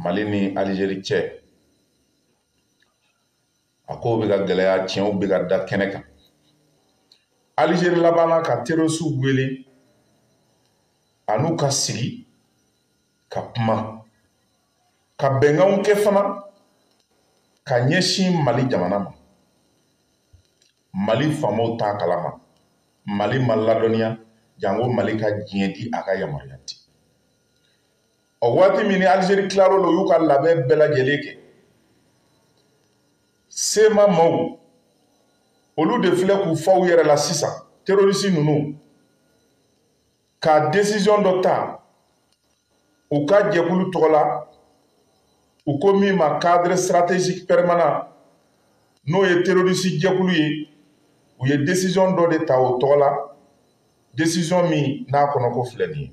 mali ni alizeri cɛ a kow bɛ ka gɛlɛya tiɲɛw bɛ ka da kɛnɛ kan alizeri labanna ka terosiw wele a n'u ka sigi ka kuma ka bɛnkanw kɛ fana ka ɲɛsin mali jamana ma mali faamaw t'a kalama mali ma ladɔnniya janko mali ka diɲɛ di a ka yamaruya di ɔ waati min ni alizeri tilar'o la u y'u ka labɛn bɛɛ lajɛlen kɛ sema maaw olu de filɛ k'u fa u yɛrɛ la sisan terorisi ninnu ka desiziyɔn dɔ ta u ka jɛkulu tɔgɔ la u ko min ma cadre stratégique permanent n'o ye terorisi jɛkulu ye u ye desiziyɔn dɔ de ta o tɔgɔ la desiziyɔn min n'a kɔnɔko filɛ nin ye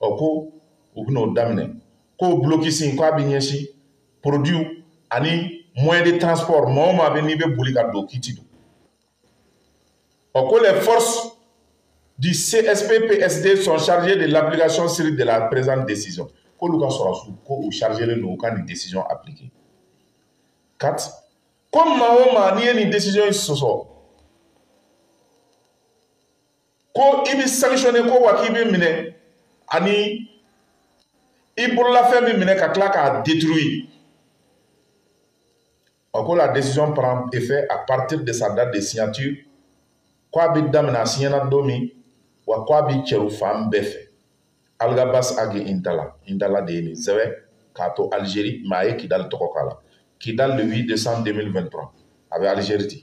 ɔ ko u bɛna o daminɛ ko bulokisi k'a bɛ ɲɛsin produits ani moyen de transport maa o maa bɛ n'i bɛ boli ka don k'i ti don ɔ ko les forces du CSPPSD sont chargées de l'application stricte de la présente décision k'olu ka sɔrɔdasiw ko u chargelen don u ka nin décision appliquer quatre ko maa o maa n'i ye nin décision in sɔsɔ ko i bɛ sanctionner ko wa k'i bɛ minɛ ani i bololafɛn bɛ minɛ ka tila k'a détruire ɔ ko la décision prend effet à partir de sa date de signature ko a bɛ daminɛ a siɲɛna don min wa ko a bɛ cɛri fan bɛɛ fɛ alghabass ag intalla intalla de ye nin sɛbɛn k'a to algérie mais a ye kidali tɔgɔ k'a la kidali le 8 décembre 2023 a bɛ algérie ten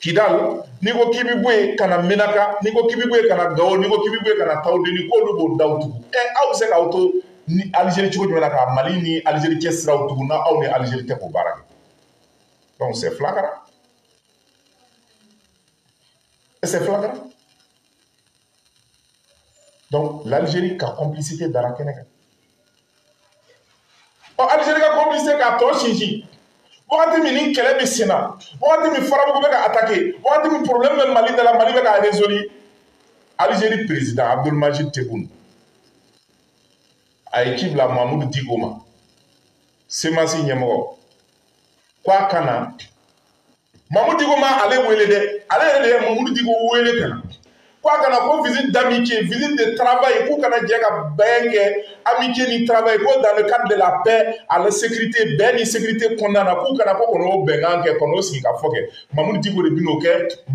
kidal n'i ko k'i bɛ bɔ yen ka na menaka n'i ko k'i bɛ bɔ yen ka na gawo n'i ko k'i bɛ bɔ yen ka na tawudeni k'olu b'o daw tugu ɛ aw bɛ se k'aw to alizeri cogo jumɛn na ka mali ni alizeri cɛ siraw tugu n'aw ni alizeri tɛ k'o baara kɛ donc c'est flagrant c'est flagrant donc l'algérie ka complicité dara kɛnɛ kan ɔ algérie ka complicité k'a tɔ sinsin wagati min ni kɛlɛ bɛ sen na wagati min farabugu bɛ ka attaqué wagati min problème bɛ mali da la mali bɛ ka résolu algérie président abdelmadjid tebboune a ye ci bila mamudu diko ma semasi ɲɛmɔgɔ ko a ka na mamudu diko ma ale wele dɛ ale yɛrɛ de ye mamudu diko wele ka na ko a ka na ko visite d'amitié visite de travail k'u ka na jɛ ka bɛn kɛ amitié ni travail ko dans le cadre de la paix et la sécurité bɛn ni sécurité kɔnɔna na k'u ka na ko kɔnɔ o bɛnkan kɛ kɔnɔ o sigi ka fɔ kɛ mamudu diko de bɛn'o kɛ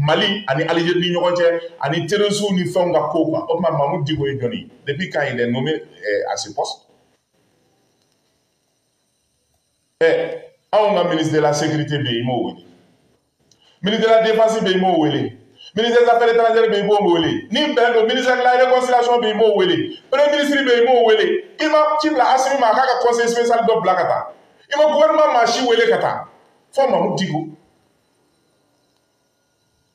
mali ani alizeri ni ɲɔgɔn cɛ ani terorisiw ni fɛnw ka kow kan o tuma mamudu diko ye jɔn ye depuis quand il est nommé eh, à ce poste ɛ anw ka ministre de la sécurité bɛ yen i m'o wele ministre de la défense bɛ yen i m'o wele ministre des affaires étrangères bɛ yen i m'o wele ni bɛn don ministre de la réconciliation bɛ yen i m'o wele premier ministre bɛ yen i m'o wele i ma ci bila Asimi ma a k'a ka conseil spécial dɔ bila ka taa i ma gouvernement maa si wele ka taa fɔ Mamu Diko.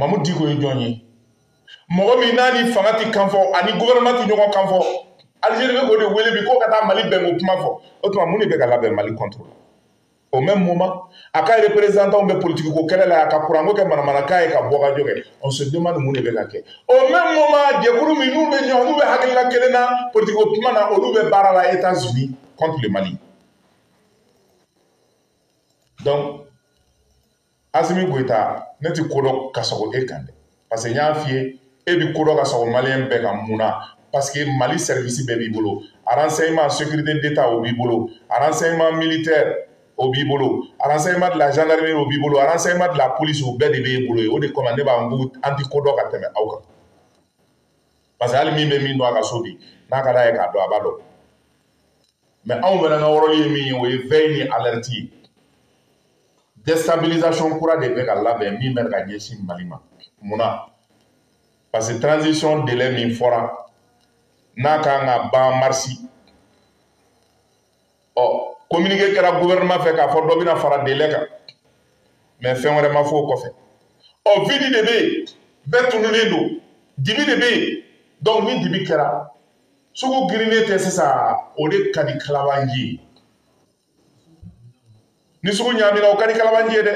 mamu diko ye jɔn ye mɔgɔ min n'a ni fanga tɛ kan fɔ a ni gɔfɛrɛnɛman tɛ ɲɔgɔn kan fɔ alizeri bɛ k'o de wele bi k'o ka taa mali bɛnko kuma fɔ o tuma mun de bɛ ka labɛn mali kɔntoro la au même moment a ka reperezantanw bɛ politiki ko kɛlɛ la a ka kuranko kɛ manamanakan ye ka bɔ ka jɔ kɛ on se demande mun de bɛ ka kɛ au même moment jɛkulu min n'u bɛ ɲɔgɔn n'u bɛ hakilina kelen na politiki ko kuma na olu bɛ baara la etats unis contre le mali asimi goyita ne ti ko dɔn ka sagon e kan dɛ parce que n y'a f'i ye e bi ko dɔn ka sagon maliyɛn bɛɛ kan mun na parce que mali sɛrivisi bɛɛ b'i bolo renseignement sécurité d'état o b'i bolo renseignement militaire o b'i bolo renseignement de la gendarmerie o b'i bolo renseignement de la police o bɛɛ de b'e bolo ye o de kama ne b'a n ko an ti ko dɔn ka tɛmɛ aw kan parce que hali min bɛ min dun a ka so bi n'a ka d'a ye k'a dɔn a b'a dɔn mais anw fana ka wɔrɔli ye min ye o ye vɛyi ni alɛriti ye destabilisation kura de bɛ ka labɛn min bɛ ka ɲɛsin mali ma munna parce que transition délai min fɔra n'a kan ka ban marisi ɔ communiqué kɛra gouvernement fɛ k'a fɔ dɔ bɛna fara délai kan mais fɛn wɛrɛ ma fɔ o kɔfɛ ɔ vidi de bɛ yen bɛɛ tununen don dibi de bɛ yen donc ni dibi kɛra sugu girinnen tɛ sisan o de ka di kalabanji ye ni sugu ɲaamina o ka di kalabanji ye dɛ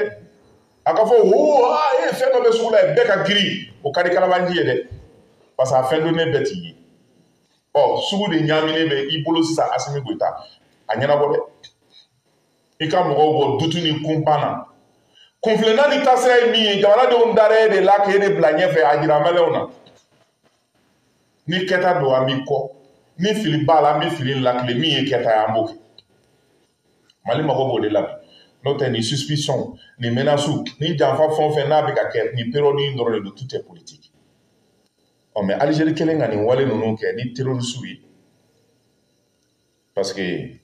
a ka fɔ hoo aa e ye fɛn dɔ bɛ sugu la yen bɛɛ ka girin o ka di kalabanji ye dɛ parce que a fɛn donnen bɛɛ t'i ye o sugu de ɲaaminen bɛ i bolo sisan asimi goyita a ɲɛnabɔ dɛ i ka mɔgɔw bɔ dutu ni kunpan na kunfilenna ni taasira ye min ye jamanadenw dara e de la k'e de bila ɲɛfɛ a jira maliyɛnw na ni kɛta don an b'i kɔ ni fili b'a la an bɛ fili latilen min ye kɛta ye an b'o kɛ mali mago b'o de la bi n'o tɛ nin suspicion nin menace ni janfa fɛn o fɛn n'a bɛ ka kɛ nin période in dɔrɔn de don tout est politique ɔ mais alizeri kɛlen ka nin wale ninnu kɛ ni terorisiw ye parce que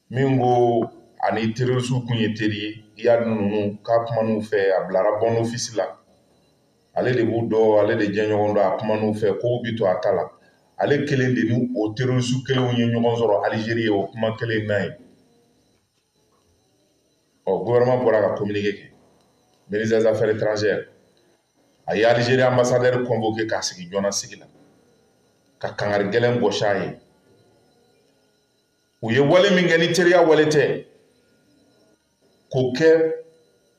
diko ani terorisiw kun ye teri ye iyad ninnu k'a kuman'u fɛ a bilara bons offices la ale de b'u dɔn ale de jɛɲɔgɔn don a kuman'u fɛ kow bi to a ta la ale kelen de ni o terorisiw kelenw ye ɲɔgɔn sɔrɔ alizeri yen o kuma kelen na ye ɔ gouvernement bɔra ka communiqué kɛ ministère des affaires étrangères a ye alizeri anbasadɛri kɔnvoke k'a sigi jɔnna sigi la ka kangari gɛlɛn gɔsi a ye u ye wale min kɛ ni teriya wale tɛ k'o kɛ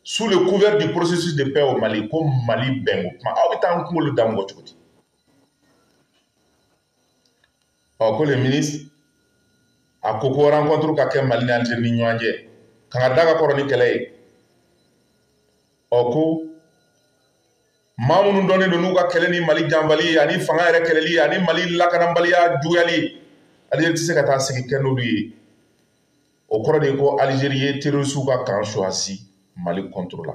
sous le couvert du processus de paix au Mali ko Mali bɛnko kuma aw bɛ taa an kunkolo da mɔgɔ cogo di ɔ ko le ministre a ko ko rencontre ka kɛ mali ni algérie ni ɲɔgɔn cɛ kangari da ka kɔrɔ ni kɛlɛ ye ɔ ko maa minnu dɔnnen don n'u ka kɛlɛ ni mali janfali ye ani fanga yɛrɛ kɛlɛli ye ani mali lakanabaliya juguyali ye algérie tɛ se ka taa sigi kɛ n'olu ye o kɔrɔ de ye ko algérie ye terrorisiw ka camp choisi mali contre la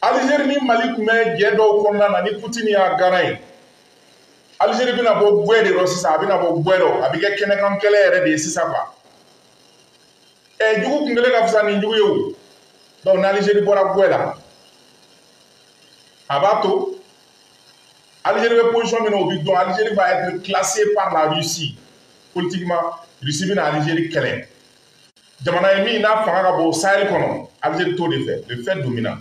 alizeri ni mali tun bɛ jɛ dɔw kɔnɔna na ni putini y'a garant ye alizeri bɛna bɔ gwɛ de rɔ sisan a bɛna bɔ gwɛ rɔ a bɛ kɛ kɛnɛkan kɛlɛ yɛrɛ de ye sisan quoi ɛ jugu kun kelen ka fisa ni jugu ye o donc n'alizeri bɔra gwɛ la a b'a to alizeri bɛ position min na o bɛ dɔn alizeri va être classé par la russie politiquement russie bɛna alizeri kɛlɛ jamana ye min n'a fanga ka bon sahel kɔnɔ algérie t'o de fɛ le fait dominant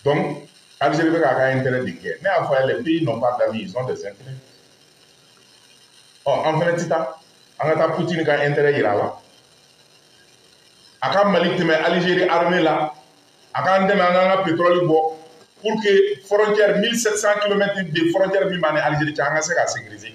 donc algérie bɛ k'a ka intérêt de kɛ ne y'a fɔ a ye les pays n'ont pas d'amis ils ont des intérêts ɔ oh, an fɛnɛ ti taa an ka taa poutine ka intérêt yira a la a ka mali tɛmɛ algérie armée la a k'an dɛmɛ an k'an ka pétrole bɔ pour que frontière 1700 km de frontière min b'an ni algérie cɛ an ka se k'a sécuriser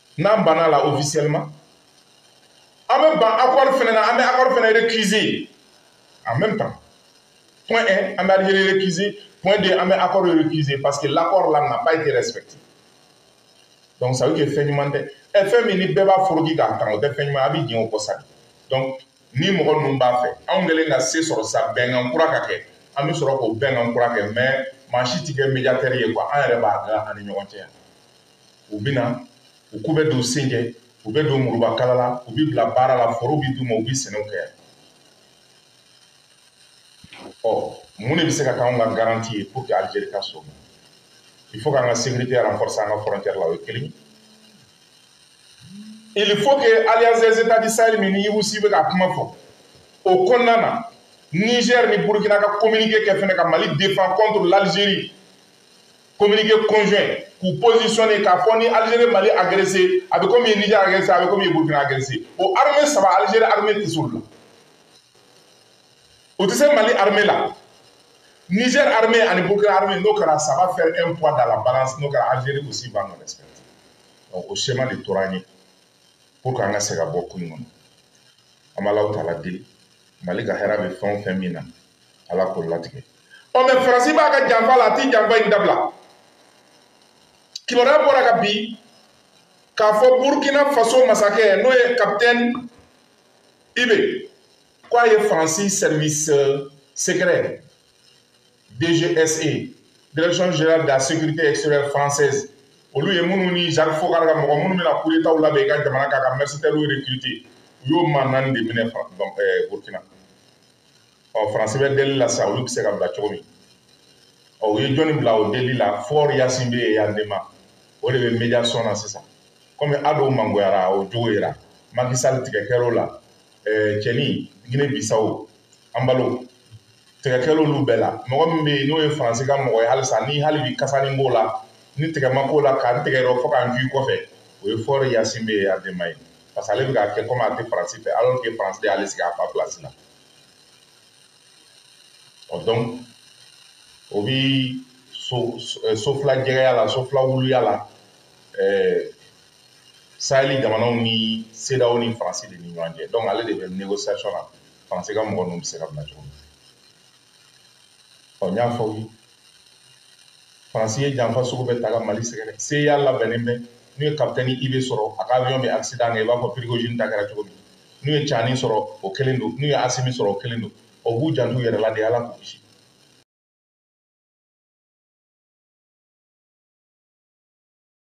n'an banna a la officiellement an bɛ ban accord fana na an bɛ accord fana récuser en même temps point un an bɛ algérie récuser point deux an bɛ accord récuser parce que l'accord là n'a pas été respecté donc ça veut dire que fɛn ɲuman tɛ ɛ fɛn min ni bɛɛ b'a foroki k'a tan o tɛ fɛn ɲuman an bɛ jɛn o kɔ sa donc ni mɔgɔ ninnu b'a fɛ anw kɛlen ka se sɔrɔ sa bɛnkan kura ka kɛ an bɛ sɔrɔ k'o bɛnkan kura kɛ mais maa si tɛ kɛ médiateur ye quoi an yɛrɛ b'a dilan an ni ɲɔgɔn cɛ yan u bɛ na u ko bɛ don sen kɛ u bɛ don murubakala la u bɛ bila baara la forow bɛ d'u ma u bɛ sɛnɛw kɛ ɔ mun de bɛ se ka k'anw ka garanti ye pour que Algérie ka sɔn il faut k'an ka sécurité renforcer an ka frontière la o ye kelen ye il faut que alliance des états du sahel min ni iwusi bɛ ka kuma fɔ o kɔnɔna na niger ni burkina ka communiqué kɛ fɛnɛ ka mali défend contre l'algérie communiqué conjoint k'u positionné k'a fɔ ni Algérie Mali agressé a bɛ komi Niger agressé a bɛ komi Burkina agressé o armée saba Algérie armée tɛ s'olu la o tɛ se Mali armée la Niger armée ani Burkina armée n'o kɛra ça va faire un poids dans la balance n'o kɛra Algérie aussi va nous respecter donc o schéma de tora an ye pour que an ka se ka bɔ ko in kɔnɔ an bɛ Alahu Taala deli Mali ka hɛrɛ bɛ fɛn o fɛn min na Ala k'o latigɛ. ɔ mais faransi b'a ka janfa la a tɛ janfa in dabila kibaruya bɔra ka bi k'a fɔ burkina faso masakɛ n'o ye kapitɛni ib ko a ye faransi service euh, secret dgse direction générale de la sécurité extérieure française olu ye minnu ni jacques foccart ka mɔgɔ minnu bɛna kudetaw labɛn i ka jamana kan ka mercenaires recruter u y'o maa naani de minɛ burkina ɔ faransi bɛ deli la sisan olu bɛ se ka bila cogo min ɔ u ye jɔni bila o deli la faure gnassingbé eyadéma o de bɛ médiation na sisan kɔmi ado mangoyara o jogo yera macky sall tigɛ kɛr'o la cɛnin guinée bissau embalo tigɛ kɛr'o olu bɛɛ la mɔgɔ min bɛ yen n'o ye faransi ka mɔgɔ ye halisa ni hali bi kasanin b'o la ni tigɛ ma k'o la ka n tigɛ yɔrɔ fo ka n k'i kɔfɛ o ye faure gnassingbé eyadéma ye parce que ale bɛ k'a kɛ kɔmi a tɛ faransi fɛ alors que faransi de y'ale sigi a fa pilasi la ɔ dɔnku o bɛ so eh, sofila jɛgɛya la sofila wuluya la eh, saheli jamanaw ni cedeao ni faransi de ni ɲɔgɔn cɛ dɔnku ale de bɛ négociation na faransi ka mɔgɔ ninnu bɛ se ka bila cogo min ɔ n y'a fɔ faransi ye janfa sugu bɛɛ ta ka mali sɛgɛrɛ cia labɛnnen bɛ n'u ye kapitɛni ib sɔrɔ a ka avion bɛ accident kɛ i b'a fɔ prigojine ta kɛra cogo min n'u ye tiani sɔrɔ o kelen don n'u ye asimi sɔrɔ o kelen don u b'u janto u yɛrɛ la de ala k'u kisi